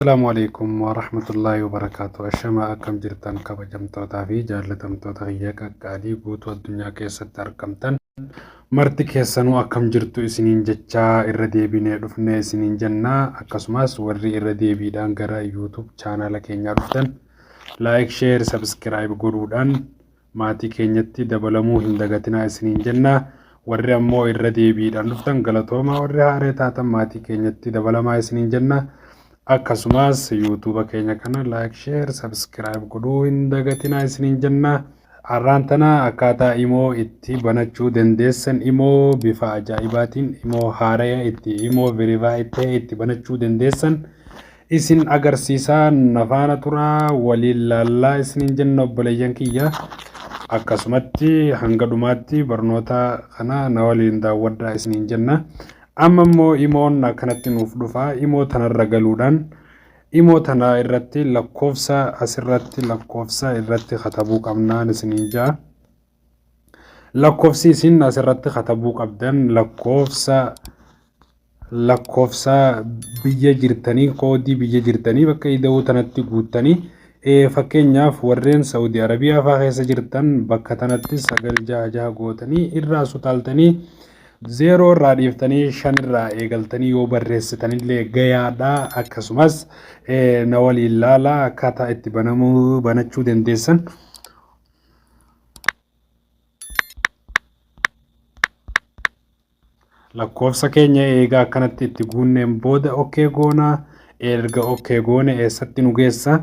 Assalaamu Aleykum Warahmatullaahi Wabarakaatuh Ashamaa akkam jirtan kabajamtootaa fi jaallatamtoota kiyya qaqqaalii guutuu addunyaa keessatti argamtan marti keessanuu akkam jirtu isiniin jechaa irra deebinee dhufne isiniin jenna akkasumas warri irra deebiidhaan gara YouTube chaanaala keenyaa dhuftan like share subscribe godhuudhaan maatii keenyatti dabalamuu hin dagatinaa isiniin jenna. Warri ammoo irra deebiidhaan dhuftan galatoomaa warri haaree taatan maatii keenyatti dabalamaa isiniin jenna. Akkasumas yuutuuba keenya kana laayik sheer sabiskiraayib godhuu hin dagatinaa isiniin jenna. Har'aan tana akkaataa imoo itti banachuu dandeessan imoo bifa ajaa'ibaatiin imoo haaraya itti imoo verify ta'e itti banachuu dandeessan isin agarsiisa na faana tura waliin laallaa isiniin jenna obboleeyyan kiyya akkasumatti hanga dhumaatti barnoota kana na waliin daawwadhaa isiniin jenna amma immoo imoon akkanatti nuuf dhufa imoo tanarra galuudhaan imoo tana irratti lakkoofsa asirratti lakkoofsa irratti katabuu qabnaan isiniin ja'a. Lakkofsi isin asirratti katabuu qabdan lakkoofsa lakkoofsa biyya jirtanii koodii biyya jirtanii bakka ida'uu tanatti guuttanii fakkeenyaaf warreen Saudi Arabiyaa fa'aa keessa jirtan bakka tanatti sagal jaha jaha gootanii irraa sutaaltanii zeeroo irraa dhiiftanii shan irraa eegaltanii yoo barreessitanillee gayaadha akkasumas na waliin laala akkaataa itti banamuu banachuu dandeessan. lakkoofsa keenya eegaa akkanatti itti guunneen booda okkee goonaa erga okkee goone eessatti nu geessa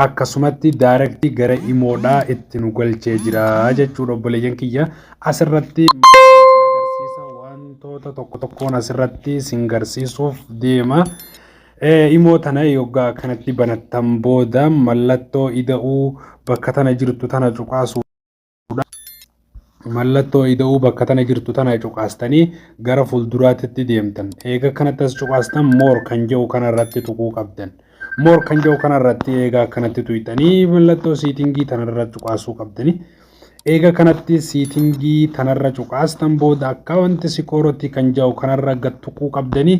akkasumatti daarektii gara imoodhaa itti nu galchee jira jechuudha obboleeyyan kiyya asirratti agarsiisa wantoota tokko tokkoon asirratti sin garsiisuuf deema. Imoo tana yoggaa akkanatti banattan booda mallattoo ida'uu bakka tana jirtu tana cuqaasuudha. Mallattoo ida'uu bakka tana jirtu tana cuqaastanii gara fuulduraatti deemtan. Eega kanatti as cuqaastan moor kan jedhu kanarratti tuquu qabdan. Moor kan jedhu kanarratti eega akkanatti tuyxanii mallattoo siitingii tanarra cuqaasuu qabdanii. Eega kanatti siitingii tanarra cuqaastan booda akkaawunti sikooroti kan ja'u kanarra gad tuquu qabdanii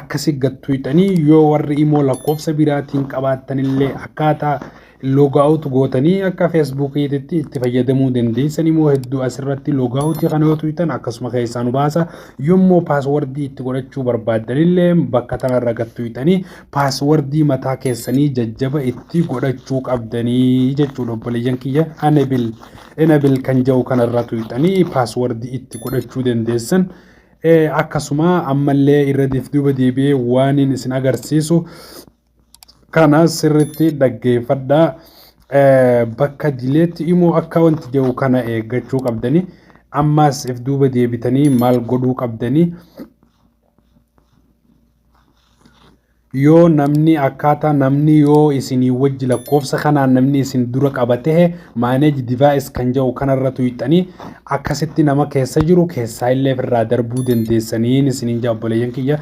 akkasi gad tuyxanii yoo warri imoo lakkoofsa biraatiin qabaattanillee akkaataa loogaawutu gootanii akka feesbuukiititti itti fayyadamuu dandeessan imoo hedduu asirratti loogaawutii kana yoo tuyxan akkasuma keessaa nu baasa yommuu paaswardii itti godhachuu barbaaddanillee bakka tanarra gad tuyxanii paaswardii mataa keessanii jajjaba itti godhachuu qabdanii jechuudha obboleeyyan kiyya enabil enabil kan jedhu kanarra tuyxanii paaswardii itti godhachuu dandeessan akkasuma ammallee irra duuba deebi'ee waaniin isin agarsiisu kana sirritti dhaggeeffadha bakka dileetti immoo akka wanti jedhu kana eeggachuu qabdanii ammaas if duuba deebitanii maal godhuu qabdanii yoo namni akkaataa namni yoo isinii wajji lakkoofsa kanaan namni isin dura qaba ta'e manage device kan jedhu kanarra tuqxanii akkasitti nama keessa jiru keessaa illee irraa darbuu dandeessaniin isiniin jedha obboleeyyan kiyya.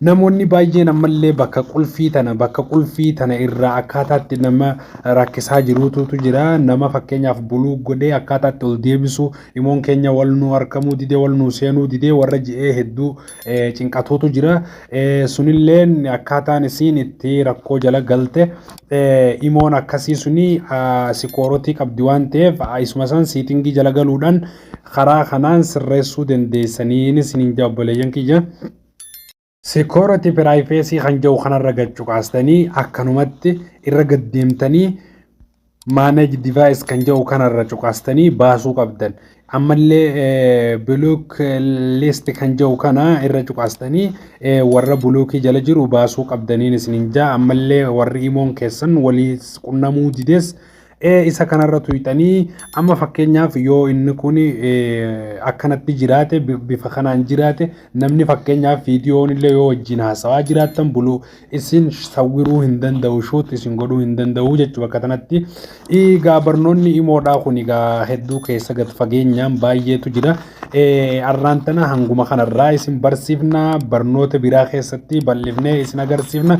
Namoonni baay'een ammallee bakka qulfii tana bakka qulfii tana irraa akkaataatti nama rakkisaa jiruutu jira. Nama fakkeenyaaf buluu godhee akkaataatti ol deebisu imoon keenya wal nu harkamuu didee wal nu seenuu didee warra ji'ee hedduu cinqatuutu jira. Sunilleen akkaataan isiin itti rakkoo jala galte imoon akkasii suni sikoorotii qabdi waan ta'eef isuma san siitingii jala galuudhaan karaa kanaan sirreessuu dandeessanii isiniin jaa obboleeyyan kiyya. Sikoorotii piraayifeesii kan jedhu kanarra gad cuqaastanii akkanumatti irra gad deemtanii manage device kan jedhu kanarra cuqaastanii baasuu qabdan. Ammallee block list kan jedhu kana irra cuqaastanii warra blockii jala jiru baasuu qabdaniin isinin jaa ammallee warri imoon keessan walii qunnamuu dides isa kanarra tuyxanii amma fakkeenyaaf yoo inni kun akkanatti jiraate bifa kanaan jiraate namni fakkeenyaaf viidiyoon illee yoo wajjin haasawaa jiraattan buluu isin sawwiruu hin danda'u shoot isin godhuu hin danda'u jechuu bakka tanatti egaa barnoonni imoodhaa kun egaa hedduu keessa gad fageenyaan baay'eetu jira arraan tana hanguma kanarraa isin barsiifna barnoota biraa keessatti bal'ifnee isin agarsiifna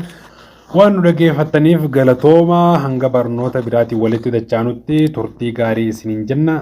waan nu dhageeffattaniif galatooma hanga barnoota biraatiin walitti dachaanutti turtii gaarii isiniin jenna